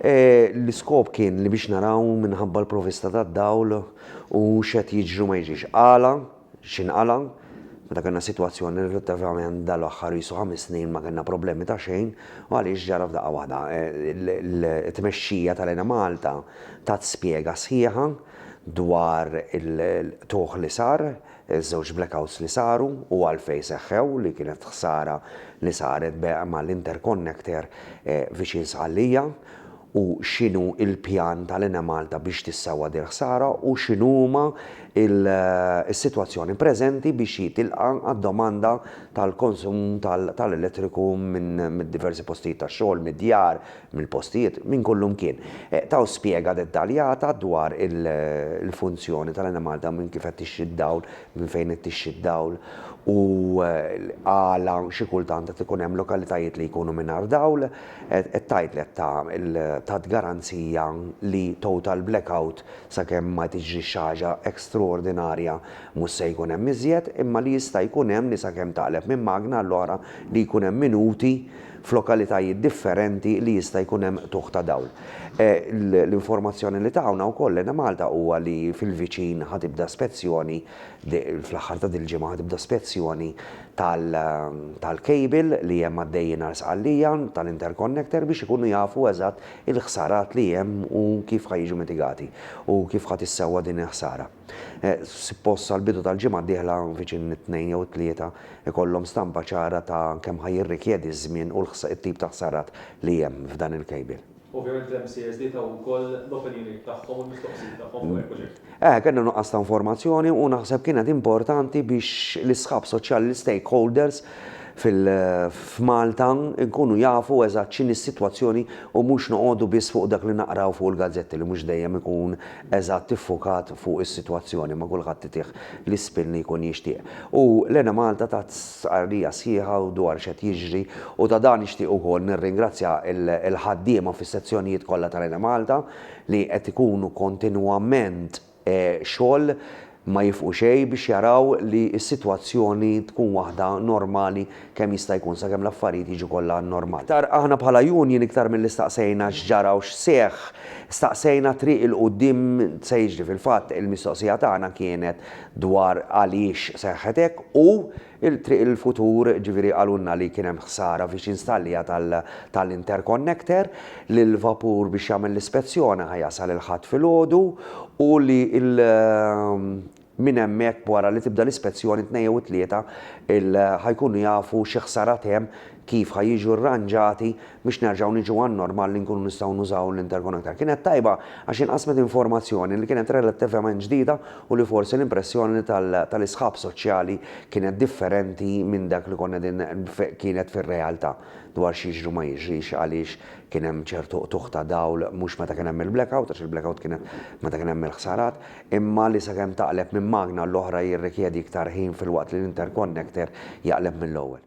L-iskop kien li biex naraw minħabba l-provista tad-dawl u x'qed jiġri ma jiġix. Qala, x'inqala, meta kellna sitwazzjoni relattivament dal-aħħar qisu ħames snin ma kellna problemi ta' xejn u għaliex ġara f'daqqa waħda. It-tmexxija tal-Enemalta tat spjega sħiħa dwar il-qtugħ li sar, Iż-żewġ blackouts li saru u għalfejn seħħew li kienet ħsara li saret b'eqma l-interconnector viċin Sqallija u x'inhu l-pjan tal-Enemalta biex tissewwa din il-ħsara u x'inhuma s-sitwazzjoni preżenti biex jitilqa' għad-domanda tal-konsum tal-elettriku minn diversi postijiet tax-xogħol, mid-djar, mill-postijiet, minn kullimkien. Taw spjega dettaljata dwar il-funzjoni tal-enemalta u minn kif qed tixxi d-dawl, minn fejn qed tixxi d-dawl u għala xi kultant qed ikun hemm lokalitajiet li jkunu mingħajr dawl. Qed tgħid li qed ta tat garanzija li total blackout sakemm ma tiġrix xi ħaġa extraordinarja mhux se jkun hemm iżjed, imma li jista' jkun hemm li sakemm taqleb minn magna għall-oħra li jkun hemm minuti f'lokalitajiet differenti li jista' jkun hemm qtugħ ta' dawl. L-informazzjoni li tawna wkoll Enemalta huwa li fil-viċin ħa tibda spezzjoni, fl-aħħar ta' dil-ġimgħa ħa tibda spezzjoni tal-cable li hemm għaddejjin għal Sqallija, tal-interconnector biex ikunu jafu eżatt il-ħsarat li hemm u kif ħa jiġu mitigati u kif ħa tissewwa din il-ħsara. Suppost sal-bidu tal-ġimgħa d-dieħla, viċin it-Tnejn jew it-Tlieta, ikollhom stampa ċara ta' kemm ħa jirrikjedi ż-żmien u t-tip ta' ħsarat li hemm f'dan il-cable. Ovvjament l-MCSD taw ukoll l-opinjonijiet tagħhom u l-mistoqsijiet tagħhom fuq il-proġett. Eh, kellna nuqqas ta' informazzjoni u naħseb kienet importanti biex l-isħab soċjali, l-istakeholders f'Malta nkunu jafu eżatt x'inhi s-sitwazzjoni u mhux noqogħdu biss fuq dak li naqraw fuq il-gazzetti li mhux dejjem ikun eżatt iffukat fuq is-sitwazzjoni ma' kulħadd itih l-ispin li jkun jixtieq. U l-Enemalta tat stqarrija sħiħa dwar x'qed jiġri u ta' dan nixtieq ukoll nirringrazzja l-ħaddiema fis-sezzjonijiet kollha tal-Enemalta li qed ikunu kontinwament xogħol Ma jifqu xejn biex jaraw li s-sitwazzjoni tkun waħda normali kemm jista' jkun sakemm l-affarijiet jiġu kollha normali. Iktar aħna bħala union iktar milli staqsejna x'ġara u x'seħħ, staqsejna t-triq 'il quddiem se jiġri. Fil-fatt il-mistoqsija tagħna kienet dwar għaliex seħħet hekk u, Il-triq il-futur, ġifieri qalulna li kien hemm ħsara fiex installia tal-interconnector, li l-vapur biex jagħmel l-ispezzjoni ħa jasal il-Ħadd filgħodu u li minn hemmhekk wara li tibda l-ispezzjoni t-Tnejn jew it-Tlieta ħa jkunu jafu xi ħsarat hemm, kif ħa jiġu rranġati biex nerġgħu niġu għan-normal li nkunu nistgħu nużaw l-intercon aktar. Kienet tajba għax inqasmet informazzjoni li kienet relattivament ġdida u li forsi l-impressjoni tal-isħab soċjali kienet differenti minn dak li konna qegħdin kienet fir-realtà dwar x'jiġri u ma jiġrix għaliex kien hemm ċertu qtugħ ta' dawl mhux meta kien hemm il-blackout għax il-blackout kienet meta kien hemm il-ħsarat imma li sakemm taqleb minn magna għall-oħra jirrikjedi iktar ħin filwaqt li l-interconnector jaqleb mill-ewwel.